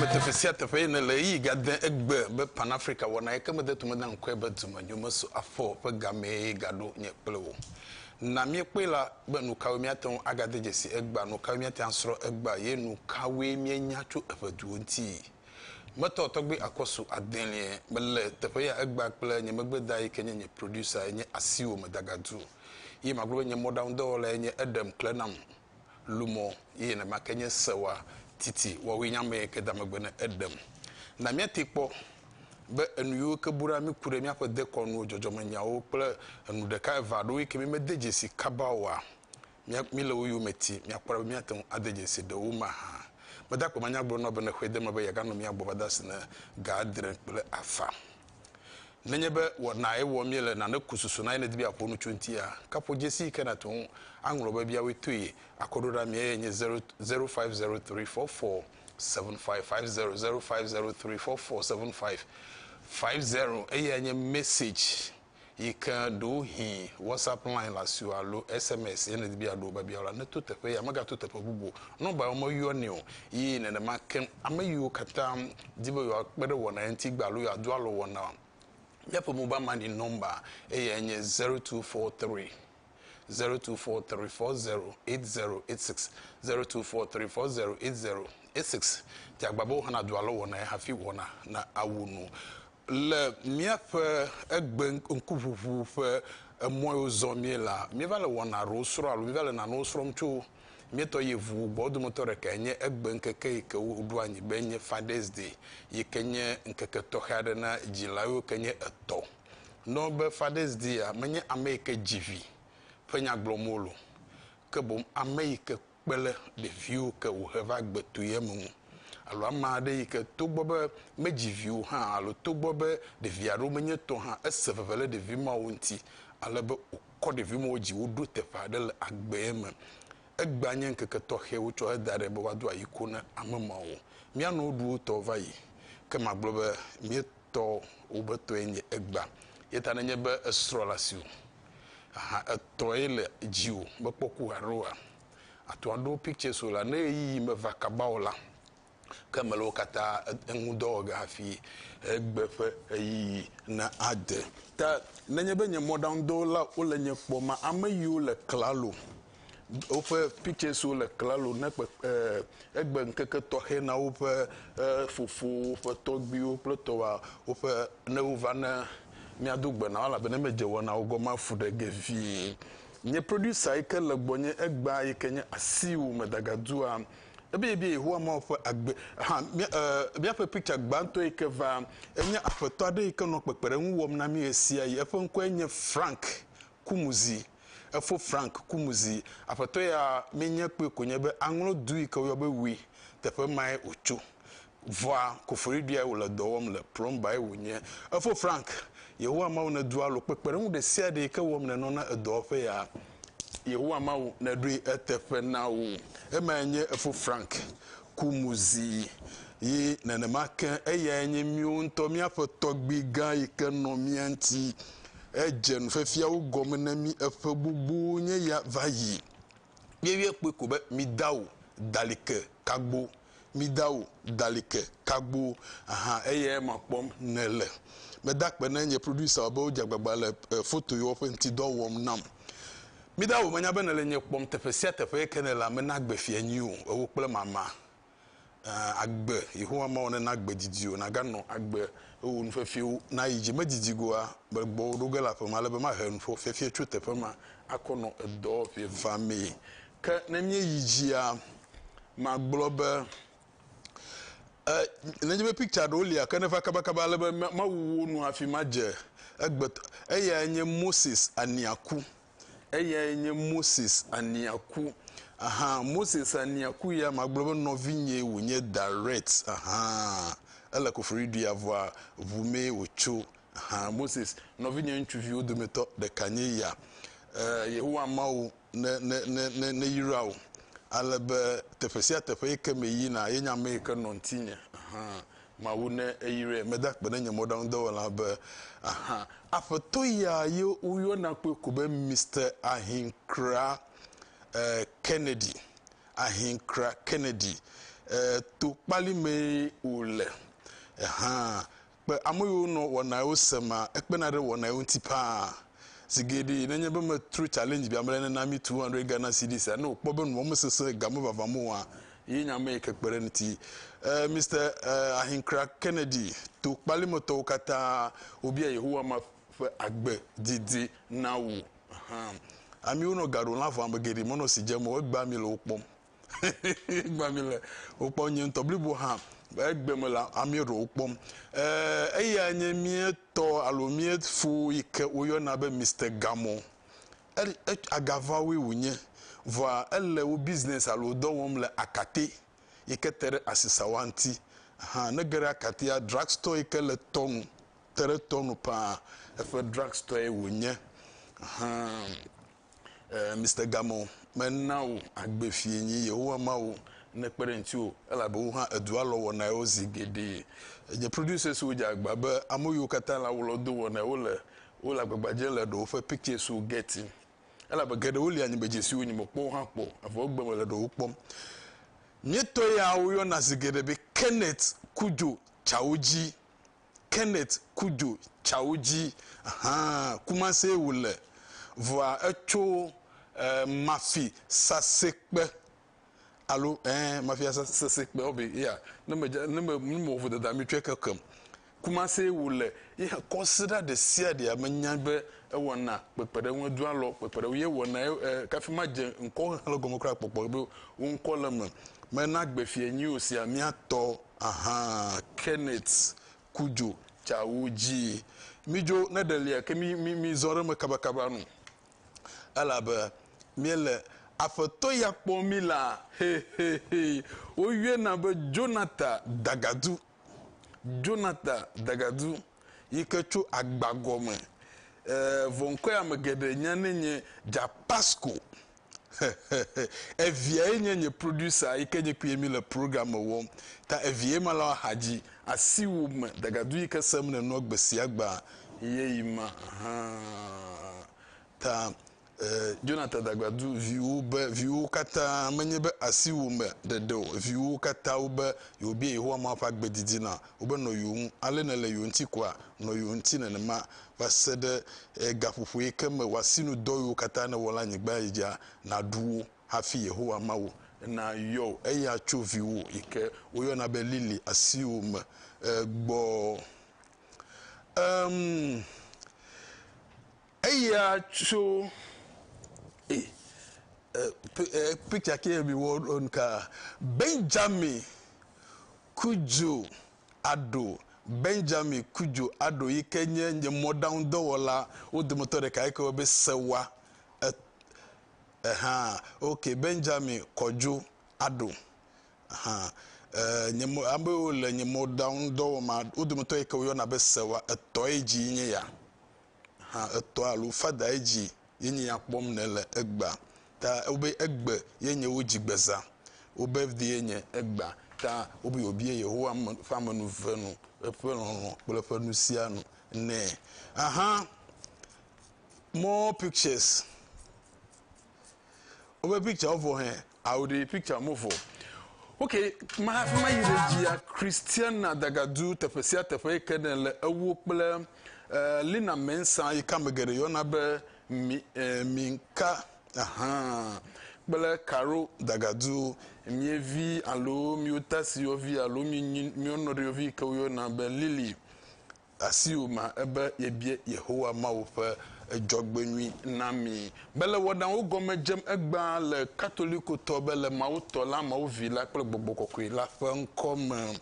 me teƒe sia teƒe yi ne le eyi gade egbe be pan africa wɔna yi ke mede tome da ŋkɔe be dumenyo meso afɔ ƒe gamee gaɖo nye kple wo na míekpɔe la be nu kawoe míate ŋu agade dzesi egbea nu kawoe míate asrɔ̃ egbea ye nu kawoe míenya tso eƒe duwo ŋuti Gbetɔ tɔgbe Akɔsu Adelie me le teƒe ya egbea kple nye megbe da yike nye nye producer enye asiwo me dagadu ye magblɔ be nye mɔɖaŋu dɔwɔla ye nye eɖem kle nam lumɔ ye nenemake nye sewa titi wɔwɔe nye ame yike da megbe ne eɖem na miate kpɔ be enu yiwo ke bu ɖa mi ku ɖe miaƒe dekɔnuwo dzɔdzɔme nyawo kple enu ɖeka eve aɖewo yike mi mede dzesi kaba oa Mía míle wo yome ti míakpɔ ɖa be míate ŋu ade dzesi ɖe wo me hã. Mede akpe manya gblɔ na wò be ne xɔe de eme be yeaganɔ mía gbɔ va de asi ne ga adre kple afã. Nenye be wɔnae wɔm míele nane ku susu na ye nèdi be yeaƒo nu tso eŋutia, ke ƒo dzesi yi ke nàte ŋu aŋlɔ be biawoe toe. Akɔɖoɖa mía ye nye 0 0503 4475 50 0503 4475 50 eye anye message. yi ke ɖewohĩ WhatsApp line le asiwò alo SMS ye nèdi be yeaɖo wò biabia la, neto teƒe ya, megato teƒe bubu o. Nɔmba yawo meyɔnɛ o. Ye nenema ke ame yiwo katã di be yewoakpe ɖe wɔna ye ŋuti gbea alo yewoado alɔ wɔnaa, míaƒe mobile money nɔmba eyae nye zero two four three. zero two four three four zero eight zero eight six zero two four three four zero eight zero eight six ti agba be woxɔna do alo wɔnae hafi wɔna na awu nu le míaƒe egbe ŋkuʋuʋu ƒe emɔ yiwo zɔ mie la míeva le wɔna aɖewo srɔ̃ alo míeva le nanewo srɔ̃m tso míetɔ yevu gbɔ wo dometɔ ɖeka enye egbe ŋkeke yi ke woɖo anyi be enye fathers day yi ke nye ŋkeke tɔxɛ aɖe na dzila yiwo ke nye etɔ Nɔ be Fathers Day-a menye ame yi ke dzi vi ƒe nya gblɔm wole o, ke boŋ ame yi ke kpe ɖe ɖeviwo ke wòhe va gbe tu ye me ŋu, alo ame aɖe yi ke togbɔ be medzi vi o hã alo togbɔ be ɖevi aɖewo menye tɔ hã, ese veve ɖe ɖevi mawo ŋuti ale be wòkɔ ɖevi mawo dzi woɖo teƒe aɖe le agbee me. Egbea nye ŋkeke tɔxɛ wotsɔ heda ɖɛ be woado ayi ko na ame mawo. Mía nɔewo ɖu wo tɔwo va yi, ke magblɔ be mía. tɔ wobe tɔe nye egbea yeta nenye be esrɔ le asiwò ahan etɔe le dziwò mekpɔ ku haɖe oa àto aɖo pictures wò la ne ɣeyiɣi me va kaba o la ke eme le wo katã eŋu dɔ wɔ ge hafi egbe ƒe ɣeyiɣi na ade ke nenye be nye mɔɖaŋudɔwɔla wole nye kpɔ ma ame yiwo le klalo woƒe pictures le klalo ne kpe eh, egbe ŋkeke tɔxɛ na woƒe eh, fofowo, woƒe tɔgbiwo kple tɔwa woƒe ne wova ne míado gbe na wo elabena medze wɔnawo gɔme afu ɖe ge vie. Nye producer yi ke le gbɔnye egbea yi ke nye asiwò medagadua ebie bie Yehowa Mawu ƒe agbe ha míaƒe picture gbãtɔ yi ke va enye aƒetɔ aɖe yi ke nɔ kpekpeɖeŋu wɔm na mí ɣesiaɣi eƒe ŋkɔe nye Frank Kumuzi, efo Frank Kumuzi, aƒetɔ ya menye kpɔe ko nye be aŋlɔ du yi ke woyɔ be Wi teƒe mae wòtso. Vɔa, koforiɖiae wòle dɔ wɔm le, plɔmbae wònye. Efo Frank, Yehowa Mawu nèdo alo kpekpeɖeŋu ɖesiaɖe yi ke wɔm nènɔ na edɔwɔƒe ya. Yehowa Mawu nèɖoe eteƒe na wo. Emae nye efo Frank Kumuzi. Ye nenema ke, eyae nye míwo ŋutɔ míaƒe tɔgbui gã yi ke nɔ mía ŋuti Edze nufiafiawo gɔme na mí eƒe gbogbo nye ya va yi. Míeyɔe kpɔe ko be mida o, dali ke kagbo, mida o, dali ke kagbo. Aha eyae ma kpɔm nèle. Meda akpe na nye producer be wodze agbagba le foto yewo ƒe ŋutidɔ wɔm nam. Mida o, menya be nèle nye kpɔm teƒe sia teƒe ke nèle ame na gbe fia nyui o, ewò kple mama. agbe Yehowa Mawu nena agbe didi wò, nàganɔ agbe, eye wò nufiafiawo nayi dzi. Medidi go o, mele gbɔwò ɖo ge le aƒe me, ale be mahe nuƒo fiafia tso teƒe ma akɔ nɔ edɔ ʋeʋã mee. Ke ne míeyi dzia, magblɔ be, e, nenye be picture ɖewo lia, ke neva kabakaba ale be mawu wo nu hafi madze egbe. Eyae nye Moses Aniaku. Eyae nye Moses Aniaku. Aha, Moses Aniaku ya, magblɔ be nɔvinyee wònye direct. Aha, ele Kofori dui avɔa ŋu mee wòtso. Aha, Moses, nɔvinye ŋutsuviwo dometɔ ɖeka nye ya. Eh, Yehowa Mawu ne, ne, ne, ne, neyra wò. Ale be teƒe sia teƒe yi ke meyina, yenye ame yi ke nɔ ŋutinye. Aha, Mawu ne eyrae meda akpe ɖe nye mɔɖaŋudɔwɔla be ahan aƒetɔ ya ye woyɔna kpɔe ko be Mister Ahinkra eh, Kennedy Ahinkra Kennedy eh, to kpali mee wòle eh, hã kpe ame yiwo nɔ wɔnawo sema ekpena ɖe wɔnawo ŋuti paa. Zi geɖee, nenye be metro challenge bia mele nena mi 200 Ghana cedis-a, ne wòkpɔ be nua mesesẽ ga me vavãm o hã, ye nye ame yi ke kpe ɖe eŋuti. Ɛɛ, Mister ɛɛ, Ahinkra Kennedy, to kpalimetɔwo katã wobia Yehowa ma ƒe agbe didi na wò. Ahan. Amiwo nɔ ga ɖom le aʋa me geɖe menɔ si dze me o, egbea ami le wo kpɔm. Gbã mi le wokpɔm nye ŋutɔ blibo hã egbe me la amee ɖewo wokpɔm. Ee, eya nye mía tɔ alo mía fo yi ke woyɔna be Mister Gamɔ. Agavawoe wònye, vɔa ele wo bizinɛsi alo dɔ wɔm le Akate yi ke te ɖe asisawa ŋuti. Hã ne ge ɖe Akatea, drugstore yi ke le tɔ nu, te ɖe tɔ nu paa, eƒe drugstore wònye. Hã. eh, Mister Gamon, mena wò agbe fie nyi Yehowa Mawu nekpe ɖe ŋutiwò, elabe wò hã èdu alɔ wɔnaewo zi geɖe. Nye producers-wo dze agba be ame yiwo katã le awu lɔ do wɔnaewo le wole agbagba dzem le ɖewo ƒe pictures-wo getty, elabe geɖewo li anyigbedze siwo nyemekpɔ o hã kpɔ, evɔ egbe mele ɖewo kpɔm. Míetɔ yawo yɔna zi geɖe be Kenneth Cudjoe Chaudji. Kenneth Cudjoe tsawo dzi hã Kumasee wòle, vɔa etso ɛɛ Mafi Sasekpe alo ɛɛ Mafi Sasekpe ɔbe yea ne me dze ne me ne me wɔ vodada mi tsɔɛ kekem. Kumasee wòle ye hã kɔsiɖa ɖe sia ɖea me nya be ewɔna kpekpeɖeŋu edo alɔ kpekpeɖeŋu ye wɔna ye ɛɛ kafi ma dze ŋkɔ xexlẽ gɔme kura kpɔkpɔ be wo ŋkɔ le eme. Mena gbe fiɛ nyuiwo sia mía tɔ. Ahan Kenneth ku dzo tsawo dzi. Mi dzo ne ɖe lia ke mi mi mi zɔ ɖe me kaba kaba nu. Elabe mi le Afetɔ ya kpɔ mi la he he he. Wo yɔe na be Jonathan Dagadu. Jonathan Dagadu yi ke tso agba gɔme. E vɔ ŋkɔe ame geɖe nya ne nye Dzapasko. Eviae nye nye producer yi ke nye kpuie mi le program me wɔm ta eviae ma le axa dzi asiwo me dagadu yi ke sem ne nua gbe sia gbe ye yi ma hã ta Jonathan dagadu viwo be viwo kata menye be asiwo me ɖeɖe o viwo kata wo be yewo bia Yehowa Mawu ƒe agbe didi na wo be nɔ yewo ŋu ale ne le yewo ŋuti koa nɔ yewo ŋuti nenema va se ɖe gaƒoƒo yi ke me wòasinudɔ yiwo katã nèwɔ le anyigba dzi dzia, nàɖu wo hafi Yehowa Mawu nayɔ wò, eye atso viwò yi ke woyɔna be Lily asiwò me gbɔ. Em, eya tso, e, e, picture ke miwɔ ɖo nuka? Benjamin ku dzo. aɖo Benjamin Cudjoe aɖo yi ke nye nye mɔɖaŋudɔwɔla wo dometɔ ɖeka yi ke wɔe be sewa e eha ok Benjamin Kɔdjo aɖo eha e nye mɔ amewo le nye mɔɖaŋudɔwɔma wo dometɔ yi ke woyɔna be sewa etɔe dzie nye ya. ha etɔ̃ alo fada edzi ye nye ya kpɔm ne le egbea ta wobe egbe ye nye wo dzi gbeza wobe vdi ye nye egbea ta wobe wòbie Yehowa ƒe amenuve nu eƒe lɔlɔ kple eƒe nu sia nu nɛ aha more pictures wobe picture vɔ hɛ I will the picture move for. Okay, ma hafi ma yi ɖe dzia Christiana Dagadu teƒe sia teƒe yi ke ne le ewo kple uh, Lina Mensa yi ka me geɖe yɔna be mi, uh, Minka ahan kple Caro Dagadu mievi alo miotasiwɔvi alo mienyi mienɔɖewovi yi ke woyɔna be Lily Asiwòma ebe yebia Yehowa Mawu ƒe dzɔgbenyui na mí. Mele wɔnawo gɔme dzem egbea le Katolikotɔ be le Mawu Tɔ la, Mawu Vi la kple Gbɔgbɔ Kɔkɔe la ƒe ŋkɔ me.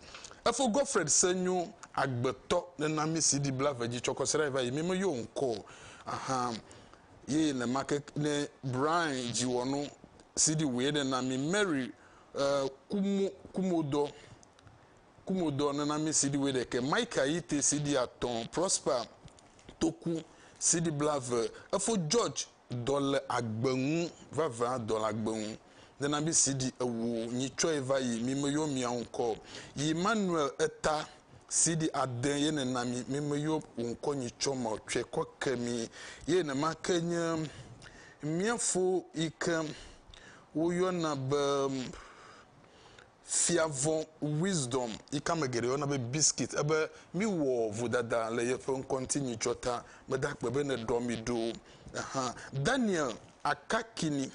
Efo Gottfried se nyo agbetɔ nena mí si ɖi blave dzi tsɔ kɔsiɖa yi va yi. Mí me yɔ ŋkɔ o axa ye nenemaake ne Brian dziwɔnu si ɖi wòye nena mí Mary Kumo, Kumodɔ. Kumodɔ nɔnɔme CD wuiɖeke, Mike Ayite CD atɔ̃, Prosper Toku CD blaeve, Efo George Dɔ le agbe ŋu, Vavã dɔ le agbe ŋu, nɔnɔme CD ewo, Nyi tsɔe va yi, Mi me yɔ mia ŋkɔ, yi Manuel Eta CD ade ye nena mi, Mi me yɔ wò ŋkɔ nyi tsɔ ma tsɔe kɔ ke mi, ye nema ke nye mia fo yi ke wo yɔna be Fia vɔ̃ Wisdom, yi ke ame geɖe yɔna be Biscuit, ebe míwɔ vodada le yeƒe ŋkɔ ŋuti nyitsɔ ta. Meda akpe be nèɖɔ mi ɖo hã. Daniel Akakini,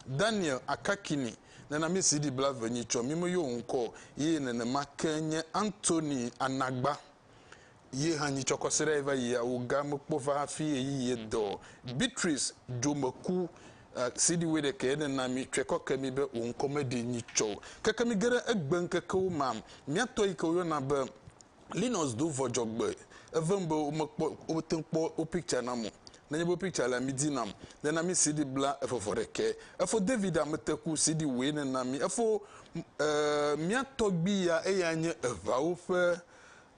Daniel Akakini, nena mí CD blaeve nyitsɔ, mí meyɔ wò ŋkɔ o, ye nenema ke nye Anthony Anagba. Ye hã nyi tsɔkɔsiɖa yi va yi ya wo ga me kpɔ va hafi eyi ye dɔ. Beatrice dzo me ku eh, CD we ɖe ke ne na mi tsɔe kɔ ke mi be wo ŋkɔ me ɖi nyi tsɔ keke mi geɖe egbe ŋkekewo ma mia tɔ yi ke wo yɔ na be Linus do vɔ dzɔgbe evem be wo me kpɔ wo te kpɔ wo picture na mo ne nye be picture la mi di nam ne na mi CD bla efe vɔ ɖe ke efo David a me te ku CD we ne na mi efo eh, mia tɔgbi ya eya nye evawo ƒe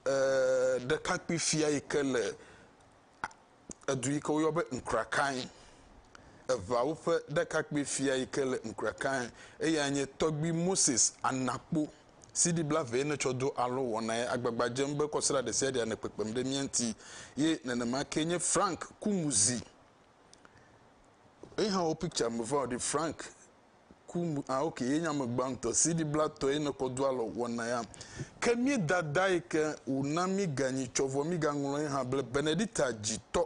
E, ɖekakpui fia yi ke le edu yi ke woyɔ be Nkrakae. Eʋeawo ƒe ɖekakpui fia yi ke le Nkrakae. Eyae nye Tɔgbui Moses Anakpo, CD bla vee netsɔ do alɔ wɔ na ye, agbagba dzem be kɔsra ɖesiaɖe anɔ kpekpem ɖe mía ŋuti. Ye nenema kee nye Frank Kumuzi. Eyi hã wo picture me va o ɖi, Frank. ku mu ah ok ye nya me gbãtɔ si ɖi bla tɔ ye ne kɔ do alɔ wɔna ya ke mi dada yi ke wòna mi ganyi tsɔ vɔ mi gaŋlɔ ye hã ble benedita dzitɔ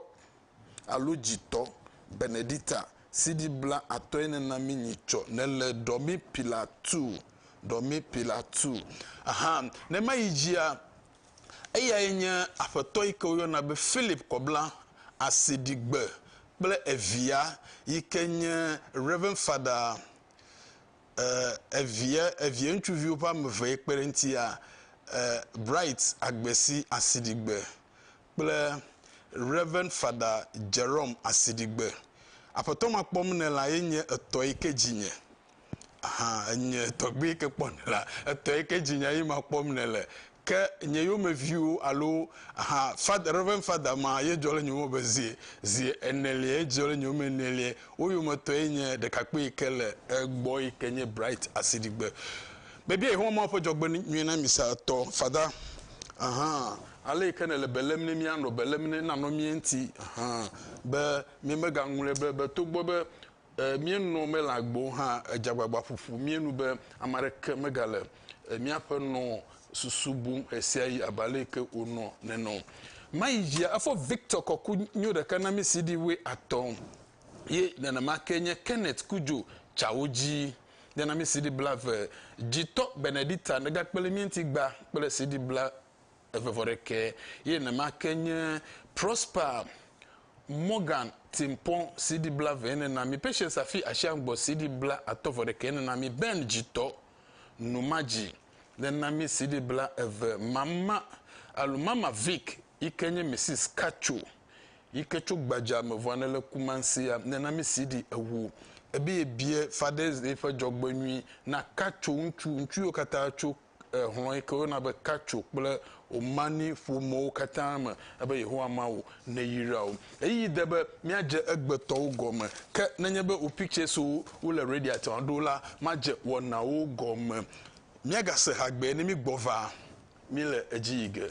alo dzitɔ benedita si ɖi bla atɔ ye ne na mi nyi tsɔ ne le ɖɔ mi pila tu ɖɔ mi pila tu aha ne ma yi dzia Eyae nye Aƒetɔ yi ke woyɔna be Philip Kɔbla Asiɖigbe kple evia yi ke nye Rev. Fada e, evia, evia ŋutsuviwo ƒe ame eve yi kpe ɖe eŋutia e, Bright Agbesi Asiɖigbe kple Rev. Fada Jerome Asiɖigbe. Aƒetɔ ma kpɔm nɛ la ye nye etɔ yi ke dzi nye. Aha, enye tɔgbui yi ke kpɔ nɛ la, etɔ yi ke dzi nye ye ma kpɔm nɛ le. Ke nye yomeviwo alo aha fada, Rev. Fada ma ye dzɔ le nye yome be zi, zi enelia ye dzɔ le nye yome enelia. Wo yometɔ ye nye ɖekakpui yi ke le egbɔ yi ke nye Bright Asiɖigbe. Mebia Yehowa Mawu ƒe dzɔgbenyui na mi sa etɔ, Fada. Aha. Ale yi ke nèle be lém ne míanɔ be lém ne nanɔ mía ŋuti hã be míemegaŋlɔe be be togbɔ be míenɔ me le agbe o hã, èdze agbagba ƒo ƒu mía nu be ame aɖeke megale míaƒe nɔ susu bum ɣesiaɣi abe ale yi ke wònɔ nene o. Mayi dzia, efɔ Victor kɔ ku nyo ɖeka na mí CD wue atɔ ye nenema kee nye Kenneth ku dzo tsawo dzi ye na mí CD bla ve dzi tɔ Benedicta negakpe le mía ŋuti gba kple CD bla eve vɔ ɖekɛ ye nema ke nye Prosper Morgan Timpon CD bla ve ene na mi, Patience Afi Ashiangbɔ CD bla atɔ vɔ ɖekɛ ene na mi, Ben Dzitɔ Numadzi le na mi CD bla eve mama alo Mama Vic yi ke nye Misis Katcho yi ke tso gbadza me vɔ ne le Kumansia le na mi CD ewo. Ebe ye biɛ Fathers Day ƒe dzɔgbenyui na Katcho ŋutsu, ŋutsu yiwo katã tso. hlɔ̃ yi ke woyɔna be Kaco kple Omani ƒomewo katã me, ebe Yehowa Mawu neyra wo. Ɣeyiɣi de be míadze egbetɔwo gɔme, ke nenye be wò pictures-wo wole Radiate hã ɖo la, madze wɔnawo gɔme. Míagase ha gbee ne mígbɔ va. Míle edzi yi ge.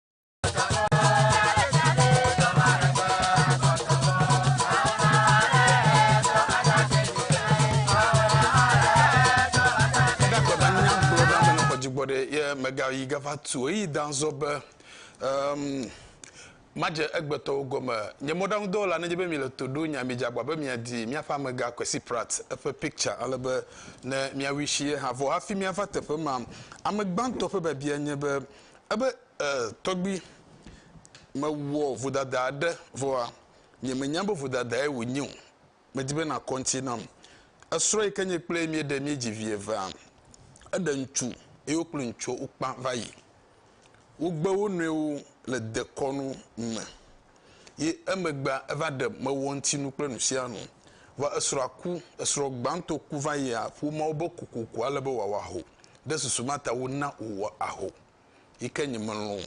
yi gava tu eyi danzɔ be um, madze egbetɔwo gɔme nye mɔɖaŋudɔwɔla nedze be mile to ɖo nya midze agba be miadi míaƒe amega kwesi prat eƒe picture ale be ne miawui si ye hã vɔ hafi miava teƒe ma ame gbãtɔ ƒe biabia nye be Ebe, E, tɔgbui, mewɔ vodada aɖe, vɔa, nye menya be vodadae wònye o, medi be nàkɔ ŋuti nam. Esrɔ̃ yi ke nye kple ye míeɖe míedzi vi evea, eɖe ŋutsu eye wo kple ŋutsua wokpã va yi. Wogbe wo nɔewo le dekɔnu me ye emegbea eva ɖe mewɔ ŋuti nu kple nusianu. Vɔa esrɔ̃a ku, esrɔ̃ gbãtɔ ku va yia ƒomeawo be kokoko ale be wòawɔ aho. ɖe susu ma ta wona wòwɔ aho yi ke nyemelɔ̃ o.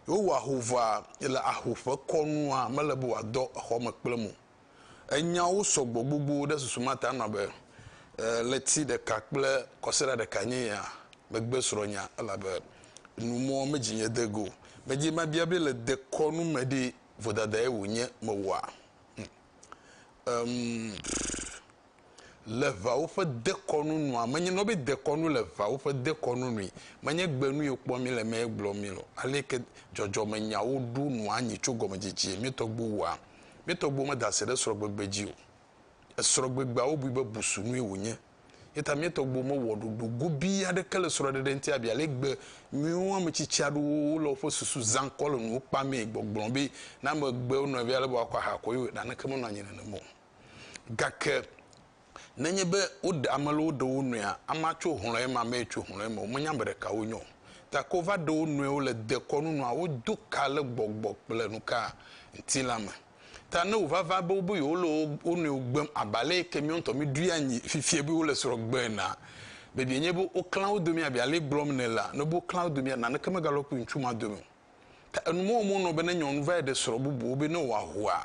Wowɔ aho vɔa, le aho ƒe kɔnua, mele be wòadɔ exɔ me kplem o. Enyawo sɔ gbɔ gbogbo ɖe susu ma ta nɔ be, E, ɣleti ɖeka kple kɔsiɖa ɖekae nye ya megbe srɔ̃nyea, elabe nu mɔ medzinye de go. Medze mabia be le dekɔnu me ɖe, vodadae wònye mewɔa? Hm, em, pff. le ʋeawo ƒe dekɔnu nua menye nɔ be dekɔnu le ʋeawo ƒe dekɔnu nui menye gbe nu yio kpɔ mi le mɛ gblɔ mi lɔ aleke dzɔdzɔme nyawo ɖu nua nyi tso gɔmedzedzee mi tɔgbu wua mi tɔgbu me da se ɖe srɔgbegbe dzi o esrɔgbegbeawo bui be busu nui wonye yeta mi tɔgbu me wɔ ɖoɖo gobi aɖeke le srɔɖeɖe ŋti abia le gbe nyuiwo ametsitsi aɖewo wo le woƒe susu zã kɔ le nuwo kpa mɛ gbɔgblɔ be na megbe nɔvia le bɔ akɔ aha kɔ yio naneke menɔ anyi nenemɔ Gake nenye be woɖe ame lɔ woɖe wo nɔea, amea tso hlɔ̃ eme, amee tso hlɔ̃ eme, womenya ame ɖeka wonye o. Gake wova ɖe wo nɔewo le dekɔnu nua wodo ka le gbɔgbɔ kple nuka ŋuti la me. Ta ne wòvava be wobe yewole wo wo nɔewo gbem abe ale yi ke míawo ŋutɔ míeɖoe anyi fifia be wole srɔ̃ gbe enea, biabiae nye be woklã wo dome abe ale gblɔm ne la, ne wobe woklã wo domea, naneke megalɔ kple ŋutsu ma dome o. Ta enumewoma wonɔ be ne nyɔnu va yi ɖe srɔ̃ bubuwo be ne wòahoa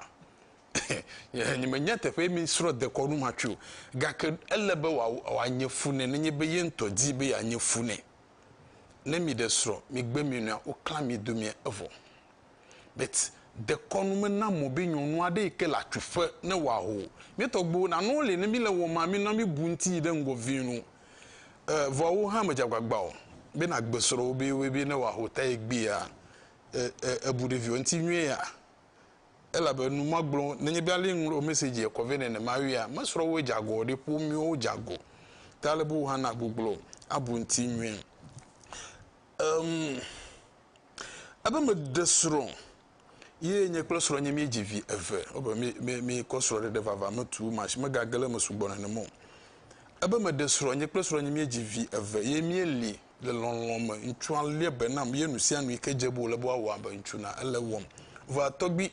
nyemenya teƒe mi srɔ̃ dekɔnu ma tso gake ele be wòanye fu nɛ nenye be ye ŋutɔ di be yeanye fu nɛ ne mi ɖe srɔ̃ mi gbe mi nɔa woklã mi domia evɔ bet dekɔnu me na mɔ be nyɔnu aɖe yi ke le atsuƒe ne wɔ aho mi tɔ gbo na no le ne mi le wɔ ma mi nɔ mi bu ŋuti yi ɖe ŋgɔ vi nu e vɔ wo hã me dzagbagba o be na gbe srɔ̃ wo be wo be ne wɔ aho ta ye gbea e e ebu ɖe viwo ŋuti nyuie ya elabe nu ma gblõ nenye be ale ŋlɔ mɛsedzia kɔ vɛ nenemaea, mesrɔ̃ woe dze agɔ o ɖe, ƒomeawo dze agɔ ta ale be wohã na guglo abu ŋuti nyuie. Em, ebe meɖe srɔ̃ ye nye kple srɔ̃nye míedzi vi eve, ebe mí, mí, míekɔ srɔ̃ɖeɖe vava me tu ma si megage ɖe eme sugbɔ nenema o. Ebe meɖe srɔ̃, nye kple srɔ̃nye míedzi vi eve ye míeli le lɔlɔ̃ me. Ŋutsua lia be nam ye nu sia nu yi ke dze be wòle be woawɔ abe ŋutsu na ele wɔm. Vɔa tɔgbui,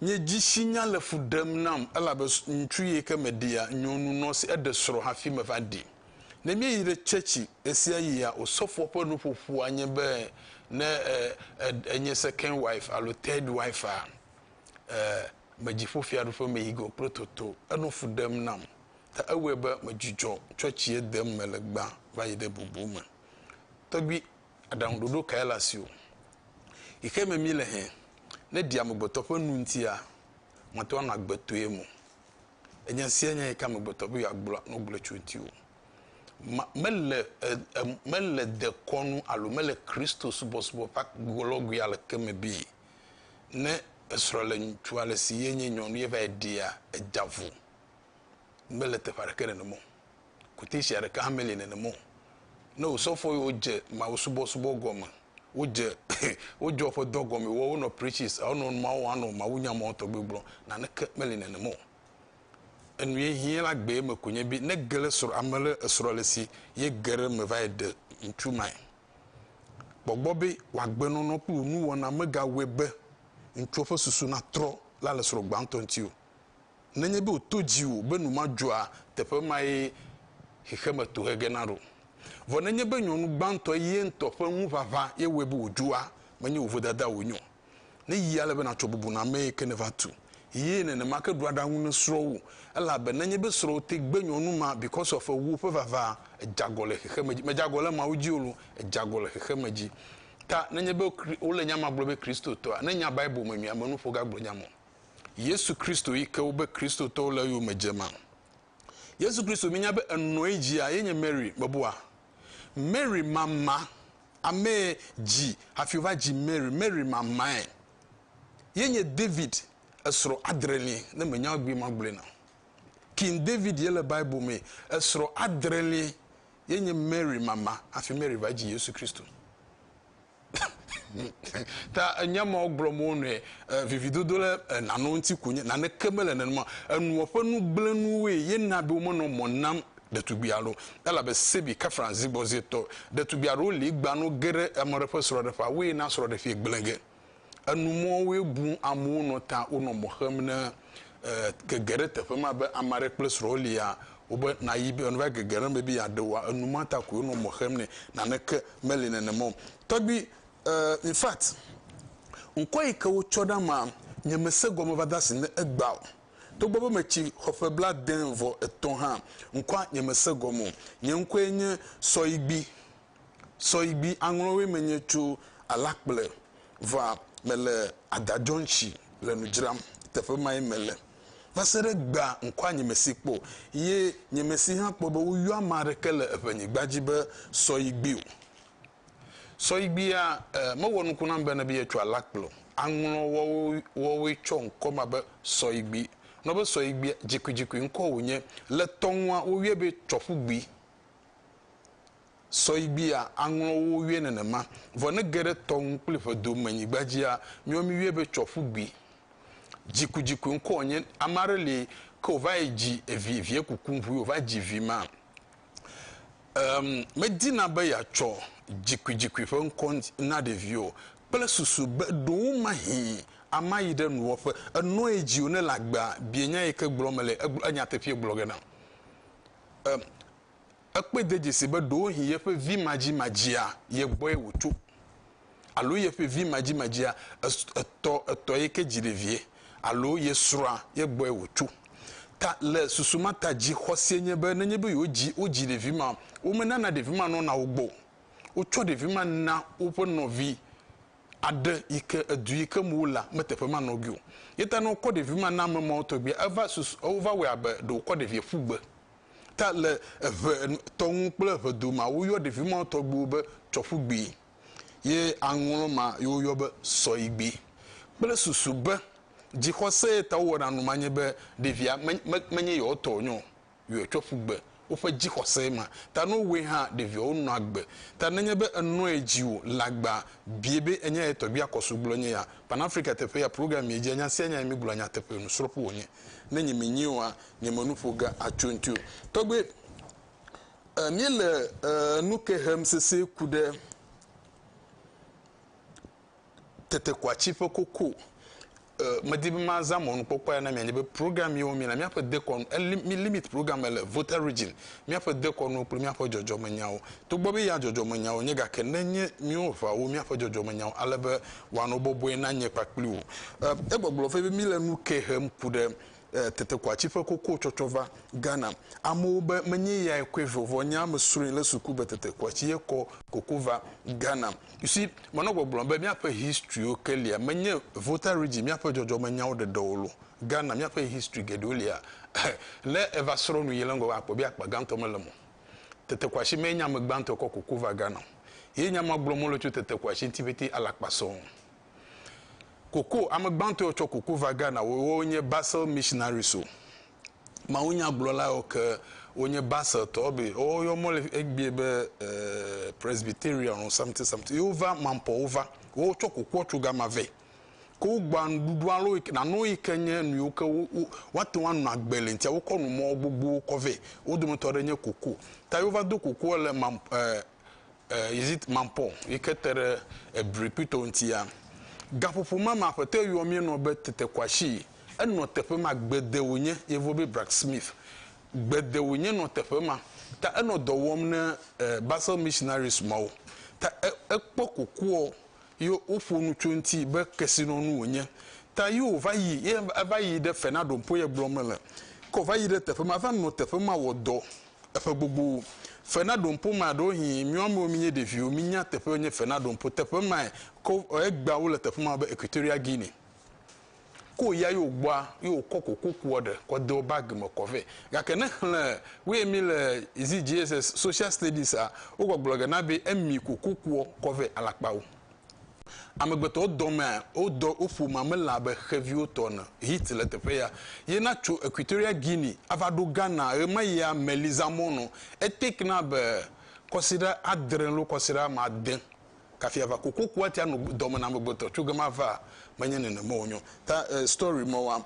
nye dzisinya le fu ɖem nam elabe ŋutsu yi ke meɖia, nyɔnu nɔ si eɖe srɔ̃ hafi meva ɖi. Ne míeyi ɖe tsɛtsi ɣesiaɣia, osɔfoa ƒe nuƒoƒoa nye be ne ènye second wife alo third wife-a, eh, me dzi ƒo fiaɖuƒe me yi go kple toto. Enɔ fu ɖem nam. ta ewɔe be medzudzɔ tsɔ tsie dem mele gbã va yi ɖe bubu me. Tɔgbui, aɖaŋuɖoɖo kae le asiwò? Yi xe me mile hẽ, ne ɖi amegbetɔ ƒe nu ŋutia, mate ŋu anɔ agbe to ye mo. Enye esia nye yi ka amegbetɔ be yeagblɔ nu gblɔe tso ŋutiwò. Ma, mele, e, e, mele dekɔnu alo mele Kristo subɔsubɔ ƒe agblɔgui aleke me be ne esrɔ̃ le ŋutsu ale si ye nye nyɔnu ye va yi ɖia, edea vo. mele teƒe aɖeke nenem o. Kuteshia ɖeka hã meli nenem o. Ne wò sɔfo yiwo dze Mawu subɔsubɔ gɔme, wodze wodzɔ woƒe dɔ gɔme, wɔ wonɔ preaches, wonɔ numawo wɔm, anɔ mawunya mawo tɔgbi gblɔm, naneke meli nenem o. Enu ye hiã la gbee me ko nye be ne ge ɖe srɔ̃ ame ɖe esrɔ̃ le si ye ge ɖe eme va yi ɖe ŋutsu mae. Kpɔ gbɔ be wò agbenɔnɔ kple wò nuwɔna megawɔe be ŋutsuɔ ƒe susu natrɔ la le srɔ̃ gbãtɔ ŋuti o. nenye be wòto dziwò be nu ma dzɔa teƒe mae xexeme tohe gena ɖo. Vɔ nenye be nyɔnu gbãtɔe ye ŋutɔ ƒe ŋuʋaʋã ye wɔe be wòdzɔa, menye wò vodada wònye o. Ne yi ale be nàtsɔ bubu na amee ke nèva tu ye nenema ke ɖu aɖaŋu ne srɔ̃wò, elabe nenye be srɔ̃wò te gbe nyɔnu ma because of ewò ƒe vavaa, èdzeagɔ le xexeme dzi. Mèdzeagɔ le Mawu dzi o loo, èdzeagɔ le xexeme dzi. Ta nenye be wole nya ma gblɔ be Kristotɔa, nenya Bible me nyuie, amenuƒo gagblɔ nya ma o. Yesu Kristo yi ke wobe Kristotɔwo le eyome dze ma. Yesu Kristo minya be enɔe dzia ye nye Mary mebua? Mary mama amee dzi hafi wova dzi Mary. Mary mamae ye nye David esrɔ̃ adreli ne menya egbee magblɔe na. King David ye le Bible me esrɔ̃ adreli ye nye Mary mama hafi Mary va dzi Yesu Kristo. ta enya ma gblɔm wo nɔe vividodo le nane ŋuti ko nye naneke mele nenema enuɔ ƒe nugblẽnuwoe ye na be womenɔ mɔ nam ɖetugbui aɖewo elabe sebi kefran zigbɔzietɔ ɖetugbui aɖewo li gbano ge ɖe ame aɖe ƒe srɔ̃ɖeƒea woe na srɔ̃ɖeƒee gblẽ ge Enu mɔ woe bu amewo nɔ ta wonɔ mɔ xem ne gege ɖe teƒe ma be ame aɖe kple srɔ̃ lia wobe nayi be neva gege ɖe eme be yeaɖe woa enu ma ta koe wonɔ mɔ xem nɛ naneke meli nenema o tɔgbi in fact ŋkɔ yi ke wotsɔ ɖa ma nye me se gɔme va de asi ne egba o togbɔ be me tsi xɔ ƒe bla de vɔ etɔ hã ŋkɔa nye me se gɔme o nye ŋkɔe nye sɔyigbi. sɔyigbi aŋlɔwoe menye tso alakple va mele adadzɔŋtsi le nu dzram teƒe mae mele vaseɖe egbea ŋkɔa nyemesi kpɔ o ye nyemesi hã kpɔ be woyɔ ame aɖeke le eƒe nyigba dzi be sɔyigbi o sɔyigbia mewɔ nuku nam bene be yetso alakple o aŋlɔ wɔwo wɔwoe tsɔ ŋkɔ ma be sɔyigbi nɔbe sɔyigbia dzikuidzikui ŋkɔ wonye le tɔŋua woyɔe be tsɔƒugbi. Sɔigbia aŋlɔ wo wiɛ nenema. Vɔ ne ge ɖe tɔ ŋu kpli ƒe do me nyigba dzia, miɔ mi wiɛ be tsɔ ƒu gbi. Dzikudzikue ŋkɔ nye ame aɖe li ke wòva yi dzi evi vie kuku ŋu ye wòva dzi vi ma. Emm medina be yeatsɔ dzikuidzikui ƒe ŋkɔ na ɖevi o kple susu be ɖowo mahi ama yi ɖe nuwɔƒe. Enɔe dzi o ne le agbea bie nya yi ke gblɔ mele egblɔ enyateƒee gblɔ ge na. e, ekpɔe de dzesi be ɖewohĩ yeƒe vi madzimadzia ye gbɔe wòtso. Alo yeƒe vi madzimadzia etɔ etɔ ye ke dzi ɖevie. Alo ye srɔ̃a ye gbɔe wòtso. Ta le susu ma ta dzixɔsie nye be nenye be yewodzi wodzi ɖevi ma, womenana ɖevi ma nɔna wo gbɔ o. Wotsɔ ɖevi ma na woƒe nɔvi aɖe yi ke edu yi ke me wola meteƒe ma nɔgui o. Ye ta ne wokɔ ɖevi ma na ame mawo tɔgbi eva susu wova wɔe abe ɖe wokɔ ɖevia ƒu gbe. Ta le eve tɔ ŋu kple eve do ma woyɔ ɖevi mawo tɔgbiwo be tsɔƒugbi ye aŋlɔ ma yi woyɔ be sɔyigbi kple susu be dzixɔsee ta wowɔna nu ma nye be ɖevia menye yewo tɔ wonye o. yɔe tsɔ ƒu gbe woƒe dzixɔse ma ta. Ne wowɔe hã, ɖeviawo nɔa agbe. Ta nenye be ènɔe dzi o, le agbea, bie be enya yae tɔgbia kɔso gblɔ nye ya. Pan Afrika teƒe ya program miedzia nya sia nya ye migblɔa nyateƒe nusrɔ̃ƒe wònye. Ne nyemenyie oa, nye me nu ƒo ge atso eŋuti o. Tɔgbe, e, míele, e, nu ke hem sesĩe ku ɖe. tetekwati ƒe koko e medi be mazã mɔnukpɔkpɔ ya na mianya be program yiwo mi le míaƒe dekɔnu mi limit program le voter region míaƒe dekɔnu kple míaƒe dzɔdzɔmenyawo togbɔ be ya dzɔdzɔmenyawo nye gake ne nye míwo ʋawo míaƒe dzɔdzɔmenyawo ale be wɔano bɔbɔe na nye kpakpli wò e egbɔgblɔ vɛ be mi le nu ke hem ku ɖe Eh, tete ko atsi ƒe koko tsɔtsɔ va Ghana. Amewo be menye yae kɔe vɔ, vɔ nya me srɔe le suku be tete ko atsi ye kɔ koko va Ghana. You see, menɔ gbɔgblɔm be miaƒe history wo ke lia, menye Volta region miaƒe dzɔdzɔme nyawo ɖeɖe wo lo. Ghana miaƒe history geɖewo lia, eh, ne eva srɔ nu yi le ŋgɔ akpɔ be akpa gãtɔ mele eme o. Tete ko atsi menye ame gbãtɔe kɔ koko va Ghana o. Ye nya ma gblɔm mele tso tete ko atsi ŋti pɛtɛ alakpa sɔɔ. Koko, Ame gbãtɔ yiwo tsɔ koko va Ghana woawo nye Basel Missionaries o. Mawunyagblɔla yiwo ke wonye Baseltɔwo be woawo yɔ mɔ le egbea be Presbyterian alo something something ye wova Mampɔ wova. Woawo tsɔ kokoa tso gama vɛ. Ke wogbɔa nuɖuɖu alo nanewo yi ke nye nu yiwo ke woate ŋu ano agbe le eŋutia wokɔ nu mɔ gbogbowo kɔ vɛ. Wo dometɔ aɖe nye koko. Ta ye wova do kokoa le Mampɔ eh. eh, is it mampɔ yi ke te ɖe ebri kpli tɔwo ŋutia. Gaƒoƒo ma me aƒetɔ yɛ yɔ míenɔ be tetekwashi. Enɔ teƒe ma, gbede wònye, yevuwo be Bracksmith. Gbede wònye nɔ teƒe ma. Ta enɔ dɔ wɔm ne eh, Basel Missionaries mawo. Ta e, ekpɔ kokoɔ yɛ woƒo nu tso eŋuti be kesinɔnu wònye. Ta yɛ wòva yi, yɛ eva yi ɖe Fernado Mpoye gblɔ me le. Ke wòva yi ɖe teƒe ma, eva nɔ teƒe ma wɔ dɔ. Eƒe gbogbo. Fe na ɖoŋpo ma ɖewohĩ míwo amewo mínye ɖeviwo mínya teƒe nye fe na ɖoŋpo teƒe mae ko egba wole teƒe ma be Equatorial Guinea ko ya yo gbɔa yo kɔ koko kuɔ ɖe kɔ deɔ bag me kɔ vɛ gake ne xlẽ woe mi le zi JSS social studies a wo gbɔgblɔ ge na be emi koko kuɔ kɔ vɛ alakpawo Amegbetɔ dɔmea wodɔ woƒo mamelã abe xeviwo tɔ ene. Hit le teƒe ya ye na tso Equatorial Guinea ava ɖo Ghana ɣemayia Melisa Mono etake na be kɔsiɖa adre lo kɔsiɖa ame ade kafi ava kokoko ati ano dɔme na amegbetɔ tso gema va menye nenema wonyo ta story mewa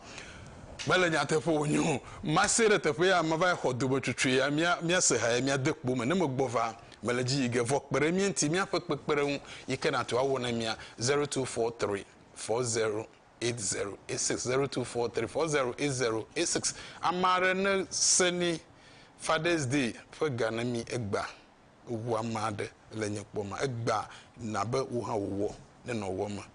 mele nyateƒe wonyo mase ɖe teƒe ya mava xɔ dome cucue ya mia mia se ha ya mia de kpo me ne megbɔ va. Mele edzi yi ge vɔ kpe ɖe mía ŋuti míaƒe kpekpeɖeŋu yi ke nàtu awɔ na mía, zero two four three four zero eight zero eight six, zero two four three four zero eight zero eight six. Ame aɖe ne se ni Father's Day ƒe ga ne mi egbea, ewu ame aɖe le nye kpɔ ma, egbea na be wò hã wò wɔ ne nɔ wɔ me.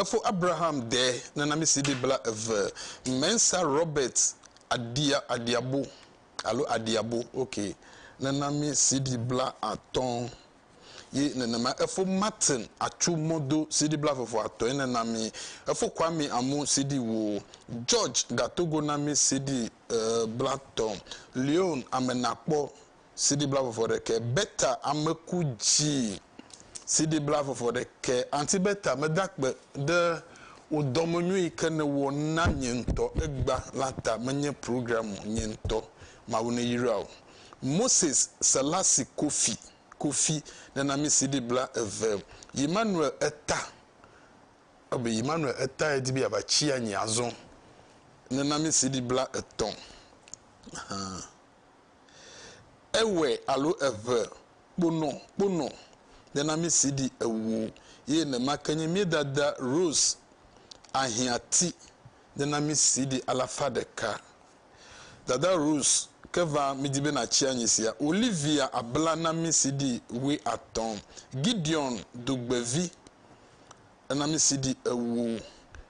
Efo Abraham dɛ nana mi si ɖi bla eve. Mensa Robert adia adiabo alo adiabo ok nana mi si ɖi bla atɔn. Ye nenema efo Martin atsu mɔ do CD bla veve atɔe ne na mi. Efo Kwame amu CD wo. George gato go na mi CD bla tɔ. Leon ame na kpɔ CD bla veve ɖekɛ. Bertha ame ku dzi CD bla veve ɖekɛ. Aunty Bertha me da kpe ɖe wo dɔme nyui yi ke ne wɔ na nye ŋtɔ egba la ta. Me nye programme nye ŋtɔ. Mawu ne yra wo. Moses Selassie Kofi, Kofi, nenamisi ɖi bla eve yi Manuel eta ebe yi Manuel eta edi be yava tsi anyi azɔ nenamisi ɖi bla etɔ̃ ahan ewɛ alo eʋe kponɔ kponɔ nenamisi ɖi ewo ye nema ke nye mía dada Rose Ahiati nenamisi ɖi alafa ɖeka. Dada Rose, ke va midi be natsi anyi sia. Olivia abla na mí sidi wuiatɔ̃. Gideon dugbevi ena mí sidi ewo.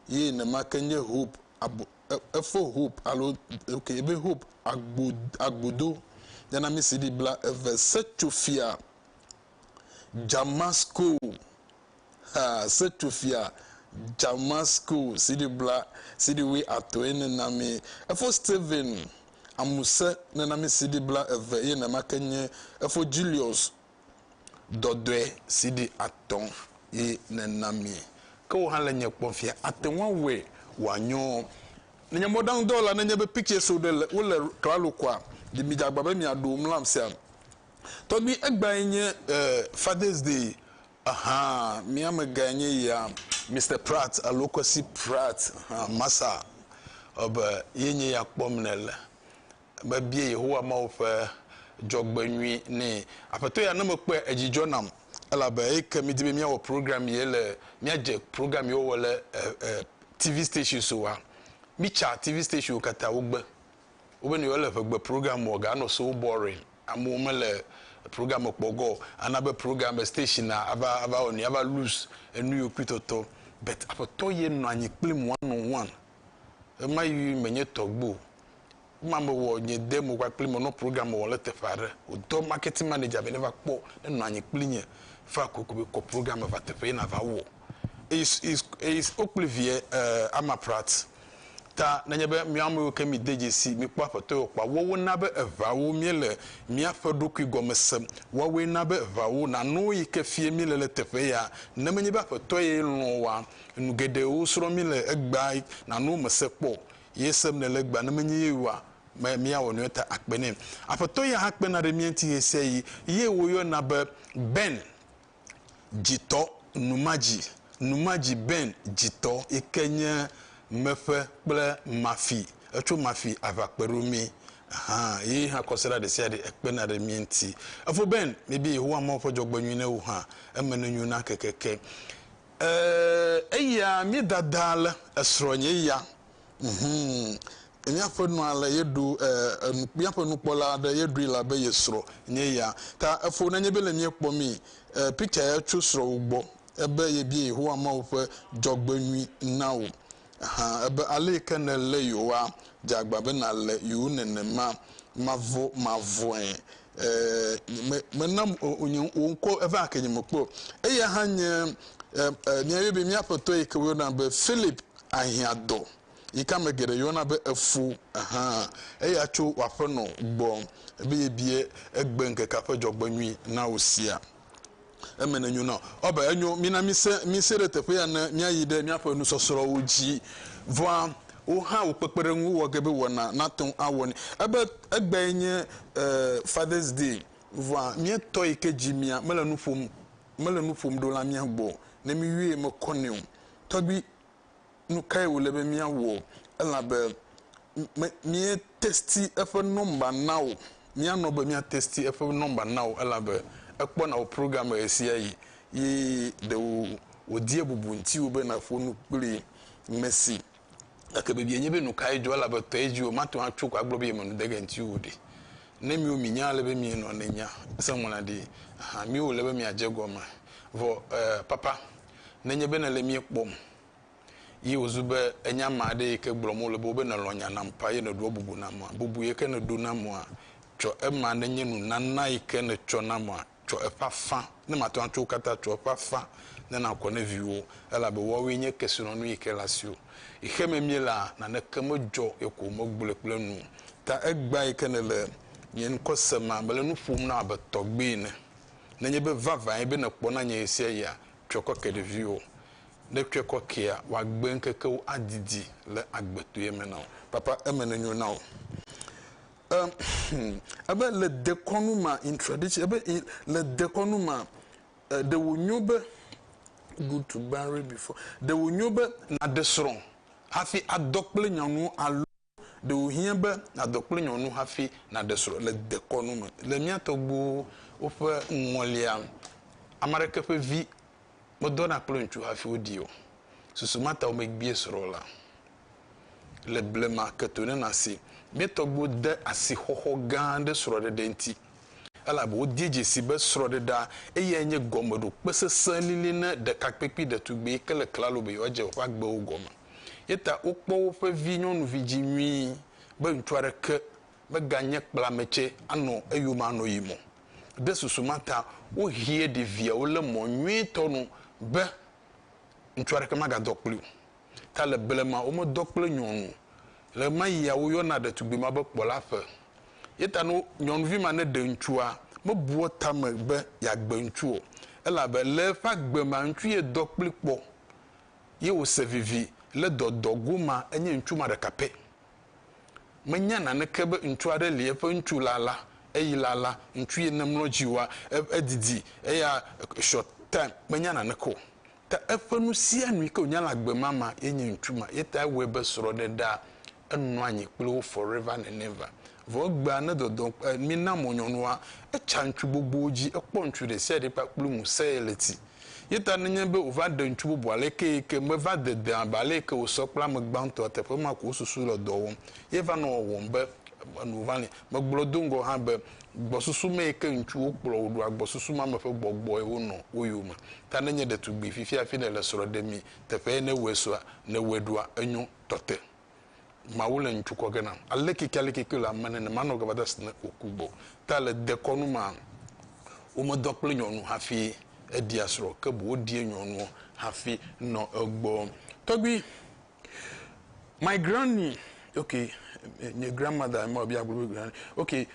Ye nema ke nye Hope abo, e, efo Hope alo ok ebe Hope agbo, agbodo ena mí sidi bla eve. Setsofia Djamasko. Ha Setufia Jamasku siɖi bla siɖi wui atoe nenami efo Steven Amuse nenami siɖi bla eve eye nenamake nye efo Julius Dɔdɔe siɖi atɔ ye nenami. Ke wò hã le nye kpɔm fia ate ŋu awɔe wòanyo. Ne nye mɔɖaŋudɔwɔla ne nye be pictures wo ɖe le wo le klalo koa ɖi mi dza gba be mia ɖo mlam sia. Tɔgbi egbae nye eh Father's day Aha, mía amegãe nye ya, Mister Pratt alo Kwesi Pratt, aha, Masa ebe ye nye ya kpɔm nèle. Mebia Yehowa Mawu ƒe dzɔgbenyui nɛ. Aƒetɔ ya, ne mekpɔe, edzi dzɔ nam, elabe eyi ke mídi be míawɔ program ye le, míadze program ye wɔwɔ le e, e, TV stations oa, mítsa TV stations wo katã, wogbe. Wobeni wole eƒe gbe program wɔ ga anɔ so boring amewo mele program me kpɔ gɔ ana be program be station a ava ava wɔ nui ava lose enu yiwo kpui tɔtɔ but aƒetɔ ye nɔ anyi kplim one on one ema yi menye tɔgbe o ema me wɔ nye de mo kpakpli me nɔ program me wɔ le teƒe aɖe wodɔ marketing manager be ne va kpɔ ne nɔ anyi kpli nye fa koko be kɔ program me va teƒe ye na va wɔ eye eye wokpli vie eh, ama prat Ta nenye be mía amewo ke mide dzesi mikpɔ Aƒetɔ o kpɔa, woawo na be eŋawo míele míaƒe ɖokui gɔme sem, woawoe na be eŋawo nanɔ yi ke fie míele le teƒe ya, ne menye be Aƒetɔ ye lɔ̃ oa, nu geɖewo srɔ̃ mí le egbea nanɔ wo me se kpɔ, ye sem nèle egbea, ne menye ye oa, me míawɔ nu eta akpe nɛ. Aƒetɔ ya hã kpena ɖe mía ŋuti ɣesiaɣi, ye woyɔna be Ben. Dzitɔ Numadzi Numadzi Ben Dzitɔ yi ke nye Meƒe kple Mafi Etso Mafi Aʋakpe ɖo mí hã Ye hã kɔsiɖa ɖesiaɖe Ekpena ɖe mí ŋuti Efo Ben Míebia Yehowa Mawu ƒe dzɔgbenyui ne wò hã Eme nenyo na kekeke Ee, eya Míedadaa le Esrɔ̃nye ya Hum. Míaƒe nua le ye ɖu e, e, míaƒe nukpɔla aɖe ye ɖui la be ye srɔ̃ nye ya. Ta efo nenye be le míekpɔ mi e, picture ya tso srɔ̃wò gbɔ ebe yebia Yehowa Mawu ƒe dzɔgbenyui na wò. Hã ebe ale yi ke nèle yewoa, dze agba be nàle yewo nenema. Mavɔ, mavɔe e, me, menam o, o nye, wò ŋkɔ eva ake nye mekpɔe o. Eya hã nye e, e, míayɔe be mía aƒetɔ yi ke woyɔna be Philip ahiã dɔ, yi ke ame geɖe yɔna be efo hã, eya tso wò aƒenɔ gbɔ be yebia egbeŋkekea ƒe dzɔgbenyui na wò sia. Eme nenyo na wò. Ɔ, be enyo, mina mise, mise ɖe teƒe ya ne míayi ɖe míaƒe nusɔsrɔ̃wo dzi. Vɔa, wò hã wò kpekpeɖeŋu wɔ ge be wɔna nate ŋu awɔ nɛ. Ebe egbae nye, e, Father's Day, vɔa míetɔ yi ke dzi mía, mele nu ƒom, mele nu ƒom ɖo la mía gbɔ o. Ne míyɔe mekɔ nɛ o. Tɔgbui, nu kae wòle be míawɔ elabe me, míetesti eƒe nɔmba na wò, míanɔ be míatesti eƒe nɔmba na wò elabe ekpɔna wò program me ɣesiaɣi ye ɖe wò, wòdie bubu ŋutiwò be nàƒo nu kpli Messi. Gake biabia nye be, nu kae dzɔ elabe tɔe dzi wò, mate ŋu atso ko agblɔ be yeme nu de ge ŋutiwò o ɖi. Ne miwo minya ale be mienɔa, ne nya sẽŋu la ɖi hã, miwo wòle be miadze egɔme. Vɔ, e, papa. Nenye be nèle mía kpɔm, ye wòzu be ènya ame aɖe yi ke gblɔm wole be wobe nèlɔ̃ nya nam ƒã ye nèɖoa bubu namea, bubu yi ke nèɖo namea, tsɔ ema nenye nunana yi ke nètsɔ namea, tsɔ eƒe afã, ne màte ŋu atsɔ wo katã o, tsɔ eƒe afã ne nàkɔ ne viwòwo, elabe woawoe nye kesinɔnu yi ke le asiwò. Xexeme míelea, naneke medzɔ ye ko womegblɔe kple nu o. Ta egbea yi ke nèle nye ŋkɔ sem ma, mele nu ƒom na wò abe tɔgbui ene. Nenye be vavãe be nèkpɔ na nye ɣesia ɣia, tsɔe kɔ ke ɖeviwò. Ne ètsɔe kɔ kea, wòagbe ŋkekewo adidi le agbetoea me na wò. Papa, eme nenyo na wò. E, hm, ebe le dekɔnu ma, in tradition, ebe in, le dekɔnu ma, e, ɖe wònyo be, good to marry before, ɖe wònyo be nàɖe srɔ̃ hafi adɔ kple nyanuwo alo. Ɖe wòhiã be nàdɔ kple nyɔnu hafi nàɖe srɔ̃ le dekɔnu me? Le mía tɔgbuiwo ƒe ŋɔlia, ame aɖeke ƒe vi medɔna kple ŋutsu hafi woɖii o. Susu ma ta womegbie srɔ̃ o la le blema ke to ne nàsee. Mía tɔgbuiwo de asixɔxɔ gã ɖe srɔ̃ɖeɖe ŋuti, elabe wodee dze sii be srɔ̃ɖeɖea eyae nye gɔmeɖokpe sesẽ lili na ɖekakpui kple ɖetugbui ke le klalo be yewoadze woƒe agbewo gɔme. Eya ta wokpɔ woƒe vi nyɔnuvi dzi nyuie be ŋutsu aɖeke meganye kplametsɛ anɔ eyome anɔ yi me o. Ɖe susu ma ta wohie ɖeviawo le mɔ nyuitɔ nu be ŋutsu aɖeke magadɔ kpli o. Ta le blema womedɔ kple nyɔnu o. Le ɣemaɣia woyɔna ɖetugbui ma be kpɔla ƒe. Eya ta ne nyɔnuvi ma neɖe ŋutsua, mebua tame be yeagbe ŋutsu o, elabe le eƒe agbe mea ŋutsu ye dɔ kpli kpɔ. ye wòse vivi le dɔdɔ goma enye ŋutsu ma ɖeka pɛ. Menya naneke be ŋutsu aɖe li eƒe ŋutsu lala eyi lala ŋutsu ye ne mlɔ dzi wa edidi eya short time menya naneke o ta eƒe nusianu yike wònya le agbe ma ma ye nye ŋutsu ma ye ta ewɔe be srɔ̃ɖeɖea enɔa nyi kple wo forever and never Vɔ egbea ne dɔdɔ kpe mí na mɔ nyɔnua, etsa ŋutsu gbogbowo dzi, ekpɔ ŋutsu ɖesiaɖe kpakple ŋusẽ ye le ti. Ye ta nenye be wòva ɖe ŋutsu bubu alekee ke, meva dedea abe aleke wòsɔ kple ame gbãtɔa teƒe ma ko wosusu le dɔ wɔm ye va nɔ wɔwɔm be enu va li. Megblɔ do ŋgɔ hã be gbɔsusu mee ke ŋutsuwo kplɔ woɖoa gbɔsusu ma me ƒe gbɔgbɔe wonɔ wo yome. Ta nenye ɖetugbui fifiafi nèle srɔ̃ ɖemii teƒee ne wɔe sua, ne wɔe ɖoa enyo tɔte. Mawu le ŋcu kɔ ge nam. Aleke ke aleke ke le ame nenema nɔ gava da si ne wòku gbɔ. Ta le dekɔnu ma, womedɔ kple nyɔnu hafi eɖia srɔ̃, ke boŋ woɖie nyɔnuɔ hafi nɔ egbɔ. Tɔgbui, my granny, ok, nye grandmother ema wòbia agblɔ be granny, ok, e,